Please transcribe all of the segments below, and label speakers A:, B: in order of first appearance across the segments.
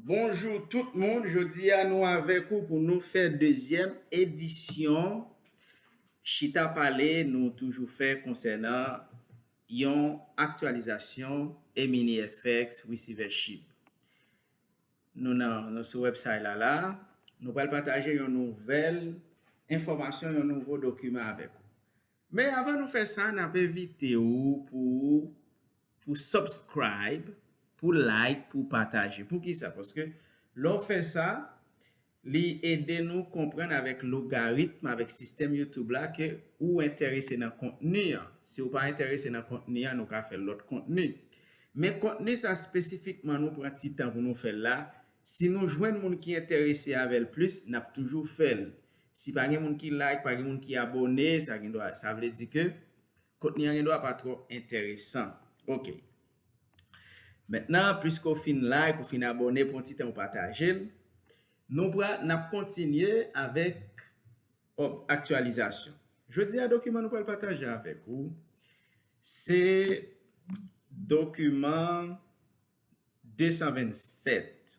A: Bonjou tout moun, jodi a nou avèk ou pou nou fè dezyèm edisyon chita pale nou toujou fè konsènan yon aktyalizasyon eminifx resivèchip. Nou nan, nou sou wèbsay la la, nou pral pataje yon nouvèl enfòmasyon, yon nouvo dokiman avèk ou. Men avan nou fè sa nap envite ou pou ou pou subscribe pou like pou pataje poukisa paske lè w fè sa li ede nou konprann avèk logaritm avèk sistèm youtube la ke ou entèrese nan kontni an si w pa entèrese nan kontni an nou ka fè lòt kontni men kontni sa spesifikman nou pran ti tan pou nou fè l la si nou jwenn moun ki entèrese avèl plis nap toujou fèl Si pa gen moun ki like, pa gen moun ki abòne, sa gen dwa, sa vle di ke kontni an gen dwa pa twò enteresan. Ok. Mentnan, piske ou fin like, ou fin abòne, pran ti tan ou pataje l. Nou pral, n ap kontinye avèk òb aktyalizasyon. Jodi a dokiman nou pral pataje avèk ou se dokiman 227.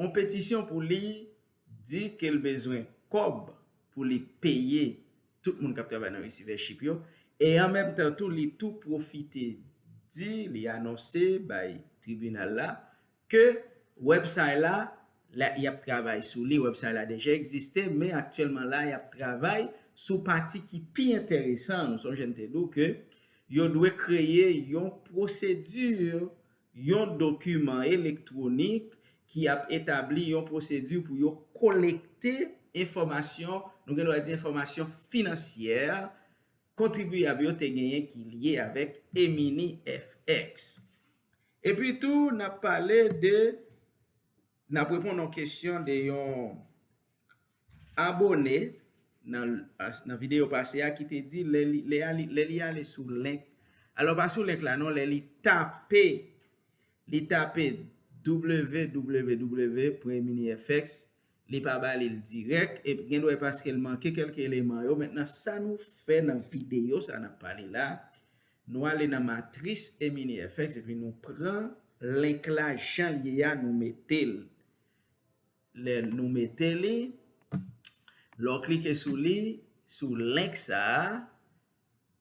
A: on petisyon pou li di ke l bezwen kòb pou li peye tout moun k ap travay nan resivèchip yo, e an menm tan tou li tou pwofite di, li anonse bay tribinal la ke wèbsay la y ap travay sou li, wèbsay la deja egziste men aktyèlman la y ap travay sou pati ki pi enteresan an, nou sonje m te di w ke yo dwe kreye yon pwosedi yon dokiman elektwonik ki ap etabli yon pwosedi pou yo kolekte enfòmasyon, nou gen dwa di enfòmasyon finansyè, kontribiyab yo te genyen ki lye avèk eMini FX. Epi tou, n ap pale de. N ap reponn yon kesyon de yon abone nan videyo pase a ki te di lè li ale sou link, alò pa sou link la non, lè li tape li tape www premye mini FX li pa ba li l dirèk e gen dwa e paske l manke kèlke eleman yo. Mentnan sa nou fè nan videyo sa n ap pale la, Nou ale nan matris e mini fx epi nou pran link la jan l ye a nou mete l. Lè nou mete li, lè w klike sou li, sou link sa a,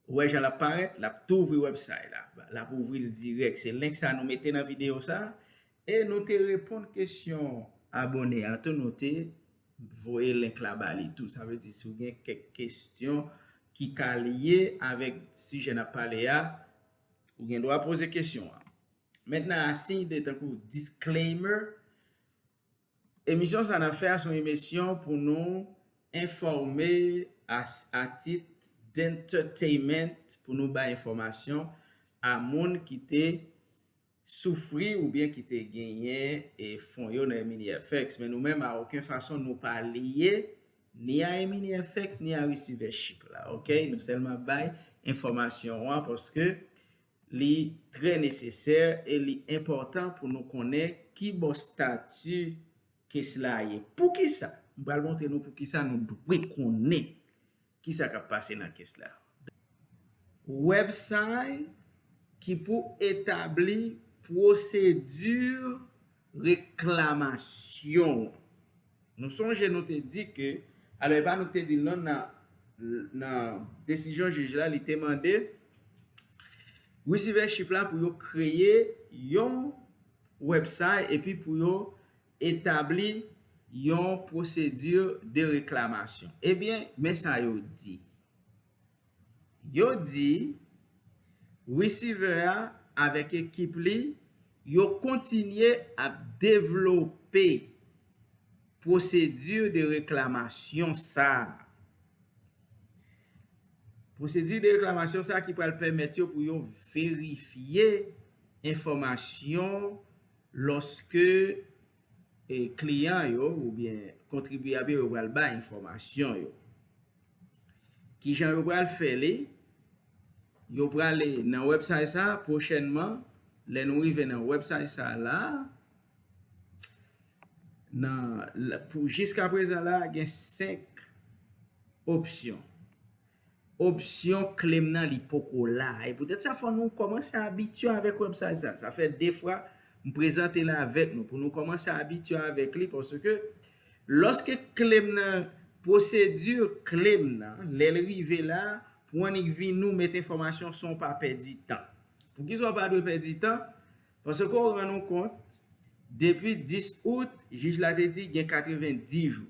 A: ou wè jan l ap parèt, l ap tou ouvri website la. L ap ouvri l dirèk. Se link sa a nou mete nan videyo sa a. E nou te reponn kesyon abone a tou, nou te. Voye link la ba li tou. Sa vle di si w gen kèk kesyon ki ka lye avèk sijè n ap pale a, ou gen dwa poze kesyon an. Mèt nan asiy de tankou disclaimer, Emisyon sa n ap fè a se yon emesyon pou nou enfòme a tit d'entertainment pou nou bay enfòmasyon a moun ki te soufri oubyen ki te genyen fon yo nan EminiFx, men nou menm a oken fason nou pa lye ni a EminiFx ni a resivèchip la ok, nou sèlman ap bay enfòmasyon an paske li trè nesesè e li enpòtan pou nou konnen kibò stati kes la ye. Poukisa? M pral montre nou poukisa nou dwe konnen Ki sa k ap pase nan kes la? Website ki pou etabli pwosedi reklamasyon an. Nou sonje nou te di ke, alò e pa nou ki te di l non nan desizyon jij la li te mande Receivership la pou yo kreye yon website epi pou yo Etabli yon pwosedi de reklamasyon. Ebyen, men sa yo di. Yo di, Resevè a avèk ekip li, yo kontinye ap devlope pwosedi de reklamasyon sa a. Pwosedi de reklamasyon sa a ki pral pèmèt yo pou yo verifye enfòmasyon. Lòske kliyan yo oubyen kontribyab yo pral bay enfòmasyon yo. Kijan yo pral fè li, yo prale nan wèbsay sa a pwochènman, lè nou rive nan wèbsay sa a la a, nan pou jiskaprezan la a gen 5 opsyon. Opsyon claim nan li poko la e poutèt sa fò nou kòmanse abitye avèk website sa. Sa fè 2 fwa m prezante l avèk nou pou nou kòmanse abitye avèk li paske lòske claim nan pwosedi claim nan lè l rive la pou annik vin nou met enfòmasyon san w pa pèdi tan. Poukisa w pa dwe pèdi tan? Paske w rann ou kont depi 10 out jij la te di gen 90 jou.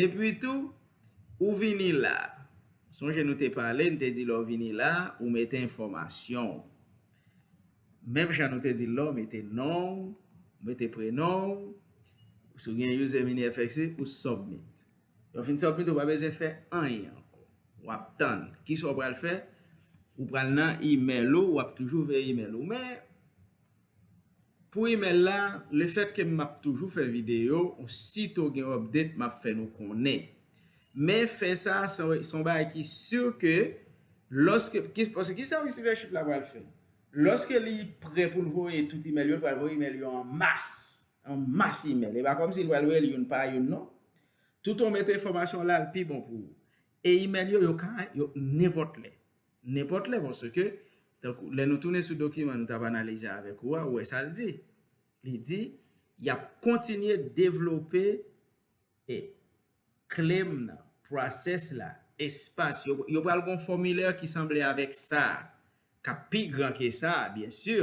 A: Epi tou, ou vini la. Sonje nou te pale, n te di lè w vini la, ou mete enfòmasyon w. Menm jan nou te di l la, ou mete non w, ou mete prenon w, si w gen User MiniFXC, ou submit. Lè w fin submit, ou pa bezwen fè anyen ankò. W ap tann. Kisa w pral fè? Ou pral nan imèl ou, w ap toujou veye imèl ou men. Pou email la, le fèt ke map toujou fè video, osito gen update map fè nou konnen. Men fè sa se yon bagay ki sur ke loske, paske kisa receivership la pral fè? Loske li prè pou l voye tout email yo, li pral voye email yo an mas, an mas email. E pa komsi li pral voye l youn pa youn non. Tout ou met enfòmasyon la, li pi bon pou ou. E email yo, yo ka, nenpòt lè. Nenpòt lè paske, tankou lè nou tounen sou dokiman nou t ap analize avèk ou a, ou wè sa l di. Li di, Y ap kontinye devlope e claim nan, process la, espas yo. Yo pral gen yon fòmilè ki sanble avèk sa a, k ap pi gran ke sa a, byen si,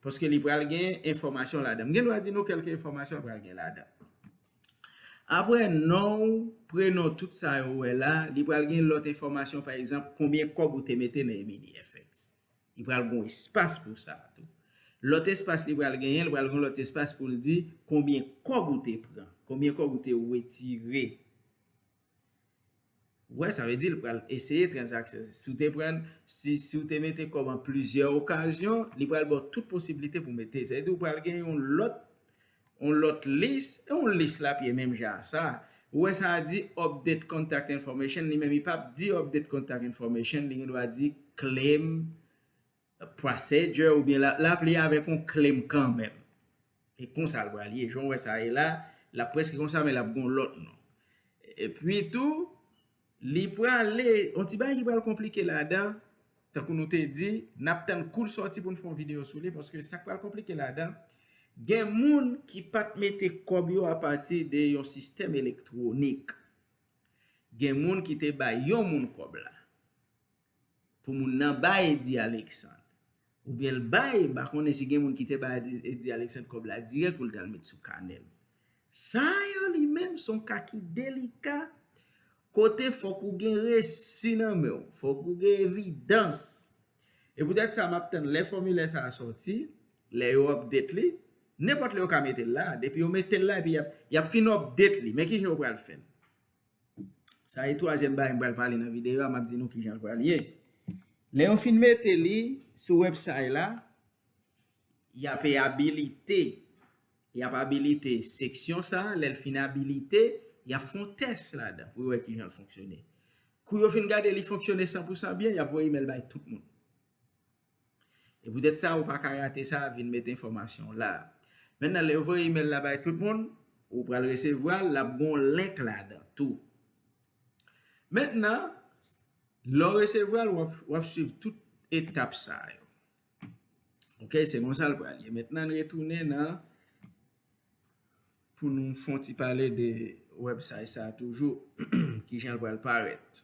A: paske li pral gen enfòmasyon ladan. M gen dwa di nou kèlke enfòmasyon pral gen ladan. Apre non ou, prenon tout sa yo ou wè la, li pral gen lòt enfòmasyon pa egzanp konbyen kòb ou te mete nan EminiFx. Li pral gen yon espas pou sa a tou. Lòt espas li pral genyen, li pral gen yon lòt espas pou l di konbyen kòb ou te pran, konbyen kòb ou te wetire. Wè sa vle di li pral eseye transaksyon. Si w te pran, si si w te mete kòb an plizyè okazyon, li pral ba w tout posiblite pou mete. Sa vle di ou pral gen yon lòt yon lòt lis, e yon lis la ap ye menm jan a sa. Ou wè sa di update contact information li menm li pap di update contact information li gendwa di claim Procedure oubyen lap lap li avèk yon claim kanmenm. E konsa l pral ye. Jan w wè sa ye la, lap prèske konsa men lap gon lòt non. E pwi tou, li prale, yon ti bagay ki pral konplike ladan, tankou nou te di, nap tann kou l sòti pou n fè yon videyo sou li, paske sa k pral konplike ladan, gen moun ki pat mete kòb yo apati de yon sistèm elektwonik. Gen moun ki te bay yon moun kòb la. pou moun nan bay Eddy Alexandre oubyen l bay m pa konnen si gen moun ki te bay Eddy Alexandre kòb la dirèk pou l t al met sou kanè l sa yo li menm s on ka ki delika kote fòk ou gen resi nan men w fòk ou gen evidans e poutèt sa m ap tann lè fòmilè sa a sòti lè yo update li nenpòt lè yo ka mete l la depi yo mete l la epi y ap fin update li men ki jan yo pral fè l Sa e twazyèm bagay m pral pale nan videyo a, m ap di nou ki jan l pral ye. Lè yo fin mete li sou websay la, y ap e abilite, y ap abilite seksyon sa, lè l fin abilite, y ap fè yon tès ladan pou yo wè ki jan l fonksyone. Kou yo fin gade li fonksyone san pou san byen, y ap voye imèl bay tout moun. E poutèt sa, ou pa ka rate sa, vin met enfòmasyon w la. Mennan lè yo voye imèl la bay tout moun, ou pral resevwa l, l ap gen yon link ladan tou. Mennan, lè w resevwa l, w ap swiv tout etap sa yo. Ok, se konsa l pral ye. Mennan n retounen nan pou nou fon ti pale de website sa toujou, kijan l pral parèt.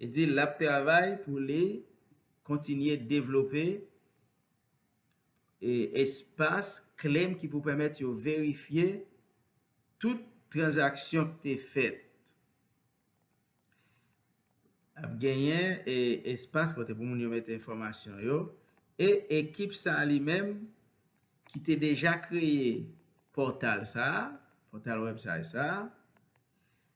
A: Li di l ap travay pou li kontinye devlope espas klem ki pou pèmèt yo verifye tout tranzaksyon ki te fèt. Ap genyen espas kote pou moun yo mete enfòmasyon yo e ekip sa li menm ki te deja kreye pòtal sa a, pòtal wèbsay sa a,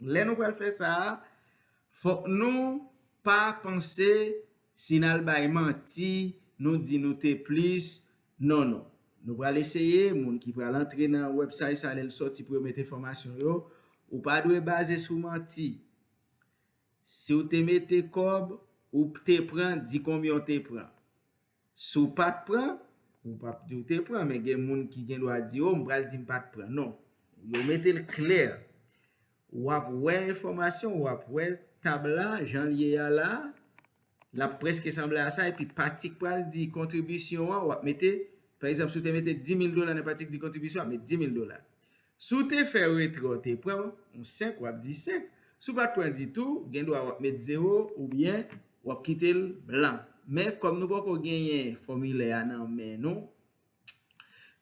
A: Lè nou pral fè sa a, fòk nou pa panse si n al bay manti, nou di nou te plis, non non. Nou pral eseye, moun ki pral antre nan websay sa lè l sòti pou yo met enfòmasyon yo, ou pa dwe baze sou manti. Si w te mete kòb, ou te pran, di konbyen w te pran. Si w pa t pran, ou p ap di w te pran, men gen moun ki gen dwa di o m pral di m pa t pran. Non. Yo mete l klè. W ap wè enfòmasyon, w ap wè tab la jan l ye a la a, l ap prèske sanble a sa epi pati k pral di kontribisyon an w ap mete, pa egzanp si w te mete 10 mil dola nan pati k di kontribisyon w ap met 10 mil dola. Si w te fè retrè w te pran yon 5 wap di 5, si w pat pran ditou gen dwa wap met 0 oubyen wap kite l blan. Men kòm nou poko genyen fòmilè a nan men nou,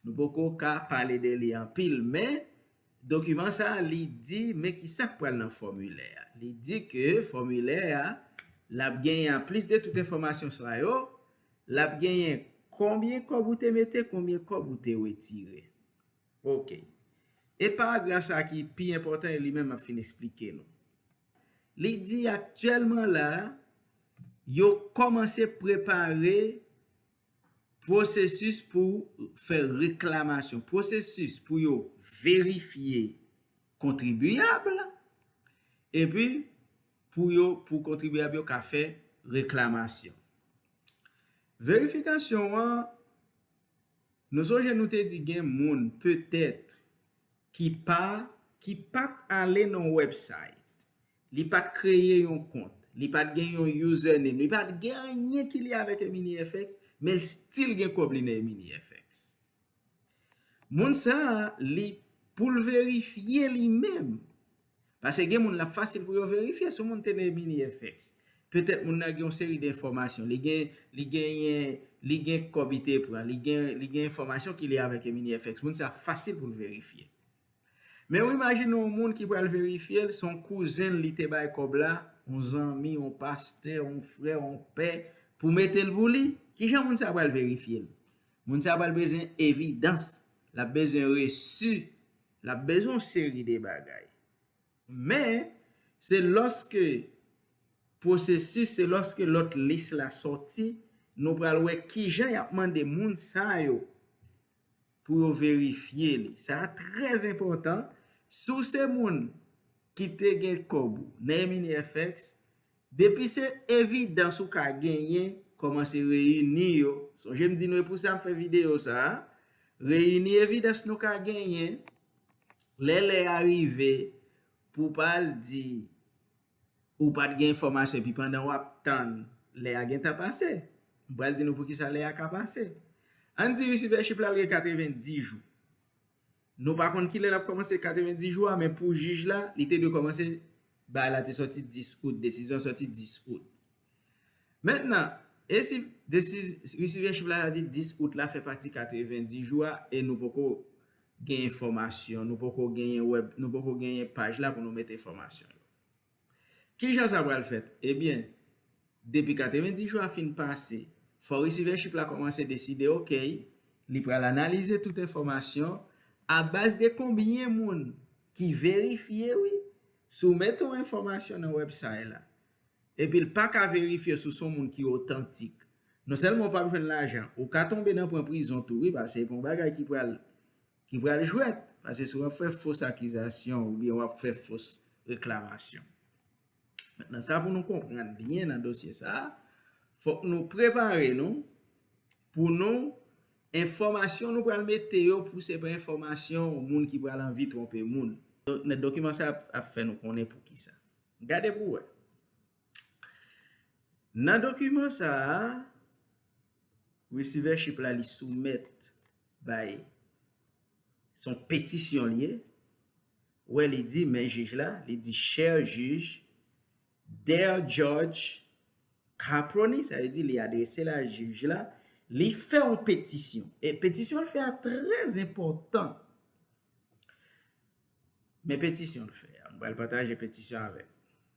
A: nou poko ka pale de li anpil men dokiman sa li di men kisak pral nan fòmilè a. Li di ke fòmilè a lap genyen an plis de tout enfòmasyon sa yo, lap genyen konbyen kòb ou te mete, konbyen kòb ou te wetire. Ok. E paragraf sa ki pi enpòtan e li menm ap fin esplike nou. Li di aktyèlman la, yo kòmanse prepare pwosesis pou fè reklamasyon, pwosesis pou yo verifye kontribiyab la, epi pou yo, pou kontribiyab yo ka fè reklamasyon. Verifikasyon an, Nou sonje nou te di gen moun petèt ki pa. Ki pa t ale nan website. Li pa t kreye yon kont. Li pa t gen yon username. Li pa t gen anyen ki lye avèk EminiFX, men l still gen kòb li nan EminiFX. Moun sa a, li, pou l verifye li menm. Pase gen moun lap fasil pou yo verifye si moun te nan mini FX. Petèt moun nan gen yon seri de enfòmasyon, li gen li genyen li gen kòb li te pran, li gen li gen enfòmasyon ki lye avèk mini FX. Moun sa fasil pou l verifye. Men ou imajine yon moun ki pral verifye l, se yon kouzen l li te bay kòb la, yon zanmi, yon pastè, yon frè, yon pè pou mete l pou li. Kijan moun sa pral verifye l? Moun sa pral bezwen evidans, lap bezwen resu. L ap bezwen yon seri de bagay. Men, se lòske pwosesis, se lòske lòt lis la sòti, nou pral wè ki jan y ap mande moun sa yo pou yo verifye li. Sa a trè enpòtan. Si w se moun ki te gen kòb ou nan MNEFX, Depi se evidans ou ka genyen, kòmanse reyini yo. Sonje m di nou e pou sa m fè videyo sa a. Reyini evidans nou ka genyen. Lè lè a rive pou w pa al di ou pa t gen enfòmasyon epi pandan w ap tann lè a gentan pase. M pral di nou poukisa lè a ka pase. Ann di risiveshi p la al gen 90 jou. Nou pa konn kilè l ap kòmanse 90 jou a men pou jij la, li te dwe kòmanse, baay la te sòti 10 out, desizyon an sòti 10 out. Mentnan, e si resivyèchip la ta di 10 out la fè pati 90 jou a e nou poko gen enfòmasyon, nou poko genyen wèb, nou poko genyen paj la pou nou met enfòmasyon yo? Ki jan sa pral fèt? Ebyen, depi 90 jou a fin pase, fò resivèchip la kòmanse deside ok, li pral analize tout enfòmasyon a baz de konbyen moun ki verifye wi, soumèt yon enfòmasyon nan wèbsay la, epi l pa ka verifye sou son moun ki otantik. Non sèlman w p ap jwenn lajan, ou ka tonbe nan pran prizon tou wi, paske se pa yon bagay ki pral ki pral jwèt paske si w ap fè fos akizasyon oubyen w ap fè fos reklamasyon. Mentnan sa pou nou konprann byen nan dosye sa, fòk nou prepare nou pou nou enfòmasyon nou pral mete yo pou se pa enfòmasyon moun ki pral anvi twonpe moun. Men dokiman sa ap fè nou konnen pou ki sa. Gade pou wè. Nan dokiman sa a. Receiver ship la li soumèt bay son petisyon li ye wè li di men jij la li di cher juge dear judge Caproni sa vle di li adrese la jij la li fè yon petisyon e petisyon l fè a trè enpòtan men petisyon l fè a m pral pataje petisyon avèk nou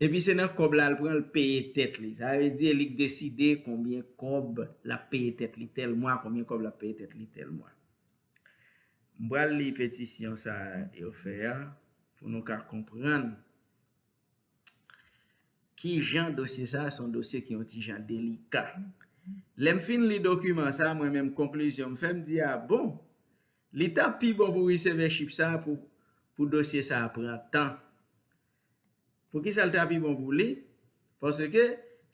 A: Epi se nan kòb la l pran l peye tèt li. Sa vle di li k deside konbyen kòb l ap peye tèt li tèl mwa, konbyen kòb l ap peye tèt li tèl mwa. M pral li petisyon sa a yo fè a pou nou ka konprann ki jan dosye sa a se yon dosye ki yon ti jan delika. Lè m fin li dokiman sa a mwen menm konklizyon m fè m di a bon, li ta pi bon pou resevèchip sa a pou dosye sa a pran tan. Poukisa l ta pi bon pou li? Paske,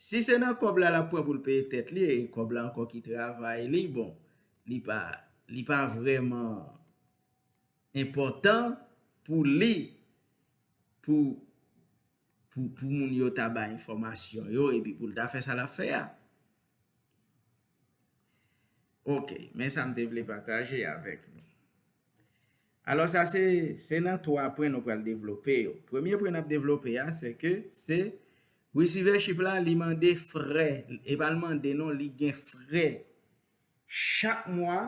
A: si se nan kòb la l ap pran pou l peye tèt li, e kòb la ankò ki travay li, bon, li pa, li pa vrèman enpòtan pou li, pou, pou, pou moun yo ta bay enfòmasyon yo, epi pou l ta fè sa l ap fè a. Ok, men sa m te vle pataje avèk nou. Alò sa se se nan 3 pwen nou pral devlope yo. Premye pwen nap devlope a se ke se Receivership la li mande frè, e pa li mande non li gen frè chak mwa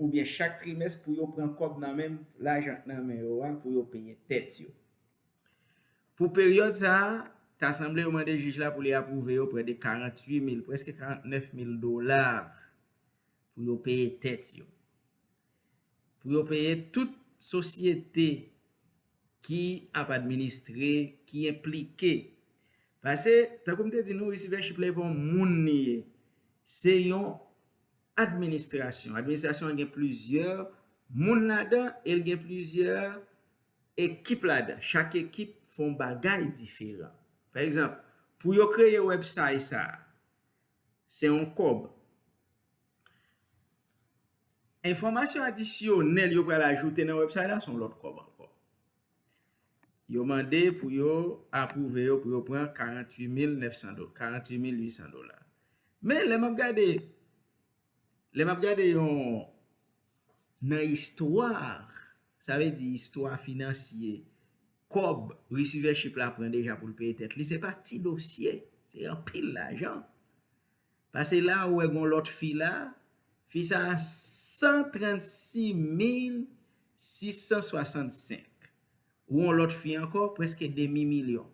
A: oubyen chak trimès pou yo pran kòb nan menm lajan k nan men yo a pou yo peye tèt yo. Pou peryòd sa a, ta sanble yo mande jij la pou li apwouve yo prè de 48 mil, prèske 49 mil dola pou yo peye tèt yo. pou yo peye tout sosyete ki ap administre, ki enplike. Pase, tankou m te di nou, resivèchip la e pa yon moun li ye. Se yon administrasyon. Administrasyon an gen plizyè moun ladan e l gen plizyè ekip ladan. Chak ekip fè yon bagay diferan. Pa egzanp, pou yo kreye wèbsay sa a, Se yon kòb. Enfòmasyon adisyonèl yo pral ajoute nan website la se yon lòt kòb ankò. Yo mande pou yo apwouve yo pou yo pran 48900 dola. Men lè map gade Lè map gade yon nan istwa, sa vle di istwa finansye, kòb resivèchip la pran deja pou l peye tèt li, se pa ti dosye, se anpil lajan. Pase la ou wè gon lòt fi la, fi sa a 136 mil 665. Ou wè yon lòt fi ankò, prèske demi milyon.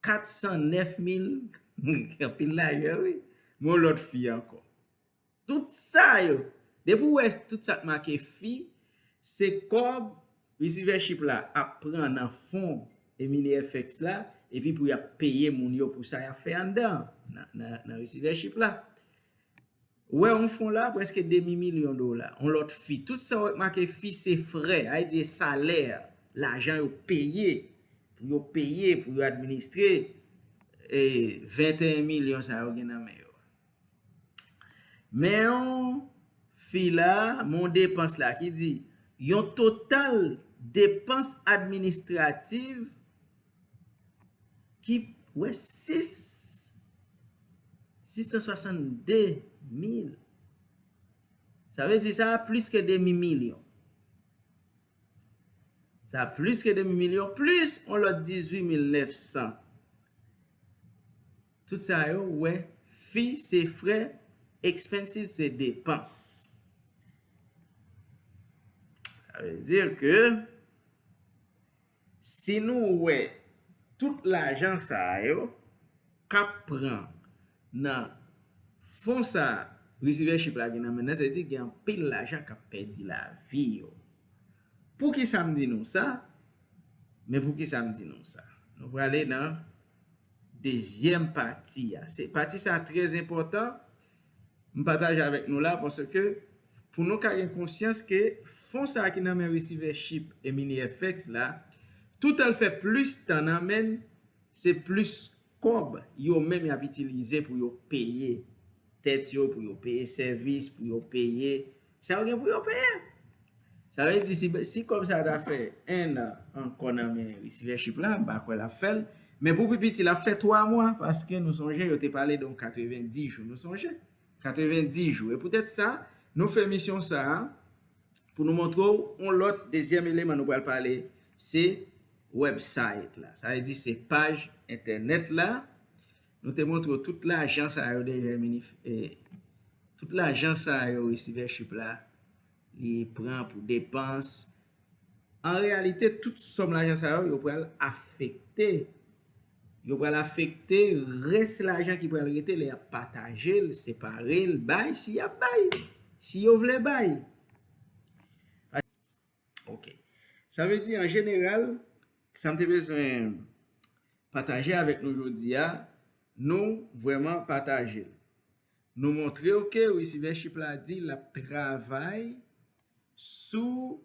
A: 409 mil anpil lajan wi men yon lòt fi ankò tout sa yo depi ou wè tout sa k make fi se kòb resivèchip la ap pran nan fon eminifx la epi pou y ap peye moun yo pou sa y ap fè anndan nan resivèchip la. Wè yon fon la, prèske demi milyon dola. Yon lòt fi. Tout sa wè k make fi se frè, ay di e salè, lajan yo peye pou yo peye pou yo administre 21 milyon sa yo gen nan men yo. Men yon fi la, men yon depans la ki di, yon total depans administrativ. ki wè 662 mil, sa vle di sa plis ke demi milyon, sa plis ke demi milyon, plis yon lòt 18 mil 900, tout sa yo wè fi se frè, expenses se depans, sa vle di ke. Si nou wè tout lajan sa yo kap pran nan fon sa resivèchip la gen nan men nan se di gen anpil lajan kap pèdi lavi yo. Poukisa m di nou sa? Men poukisa m di nou sa. Nou prale nan dezyèm pati a. Pati sa trè zenpòtan. M pataje avèk nou la paske pou nou ka gen konsyans ke fon sa ki nan men resivè chip e mini-FX la, toutan l fè plis tan nan men n, se plis kòb yo menm y ap itilize pou yo peye tèt yo, pou yo peye sèvis, pou yo peye Sa yo gen pou yo peye. Sa vle di si kòb sa ta fè 1 an ankò nan men resivèchip la, m pa kwè l ap fè l. Men pou pi piti l ap fè 3 mwa paske nou sonje yo te pale de yon 90 jou. Nou sonje? 90 jou. E poutèt sa, nou fè emisyon sa a pou nou montre w yon lòt dezyèm eleman nou pral pale se wèbsayt la. Sa vle di se paj entènèt la Nou te montre w tout lajan sa yo dèyè minif tout lajan sa yo resivèchip la li pran pou depans an reyalite tout sòm lajan sa yo yo pral afekte yo pral afekte rès lajan ki pral rete lè y ap pataje l separe l bay si y ap bay si yo vle bay. Ok. Sa vle di an jeneral, sa m te bezwen pataje avèk nou jodi a, nou vrèman pataje l. Nou montre yo ke resivèchip la di l ap travay sou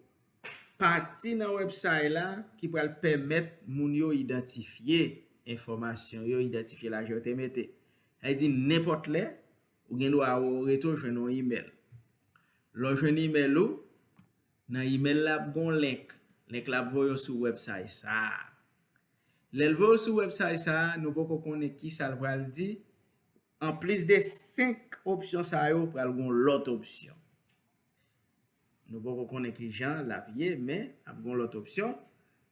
A: pati nan wèbsay la ki pral pèmèt moun yo idantifye enfòmasyon yo, idantifye lajan yo te mete. Sa vle di nenpòt lè, Ou gen dwa wè ou rete ou jwenn yon imèl. Lè w jwenn imèl ou, nan imèl la ap gen yon link. Link la ap voye w sou website sa a. Lè l voye w sou website sa a, nou poko konnen ki sa l pral di, an plis de 5 opsyon sa yo pral gen yon lòt opsyon. Nou poko konnen ki jan l ap ye men ap gen yon lòt opsyon.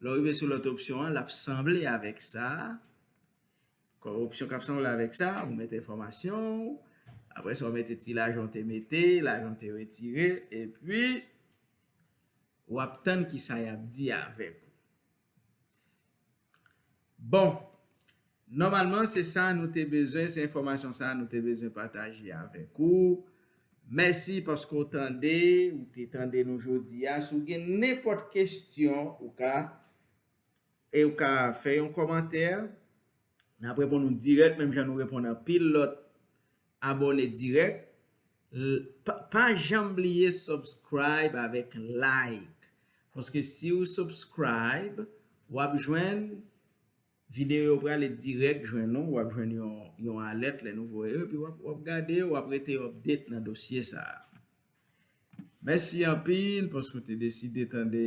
A: Lè w rive sou lòt opsyon an, l ap sanble avèk sa a. Kòripsyon kap sanble avèk sa, ou mete enfòmasyon ou, aprè sa ou mete ti lajan ou te mete, lajan ou te retire, epi wap tann ki sa yap di avèk ou. Bon, nòmalman se sa nou te bezwen, se enfòmasyon sa nou te bezwen pataje avèk ou. Mèsi paske ou tande, ou te tande nou jodi a. Si w gen nenpòt kestyon, ou ka. E ou ka fè yon kòmantè, n ap reponn ou dirèk menm jan nou reponn anpil lòt abòne dirèk. Pa janm bliye subscribe avèk like paske si ou subscribe w ap jwenn videyo yo prale dirèk jwenn ou, w ap jwenn yon alèt lè nou voye yo epi w ap gade yo, w ap rete update nan dosye sa a. Mèsi anpil paske ou te deside tande.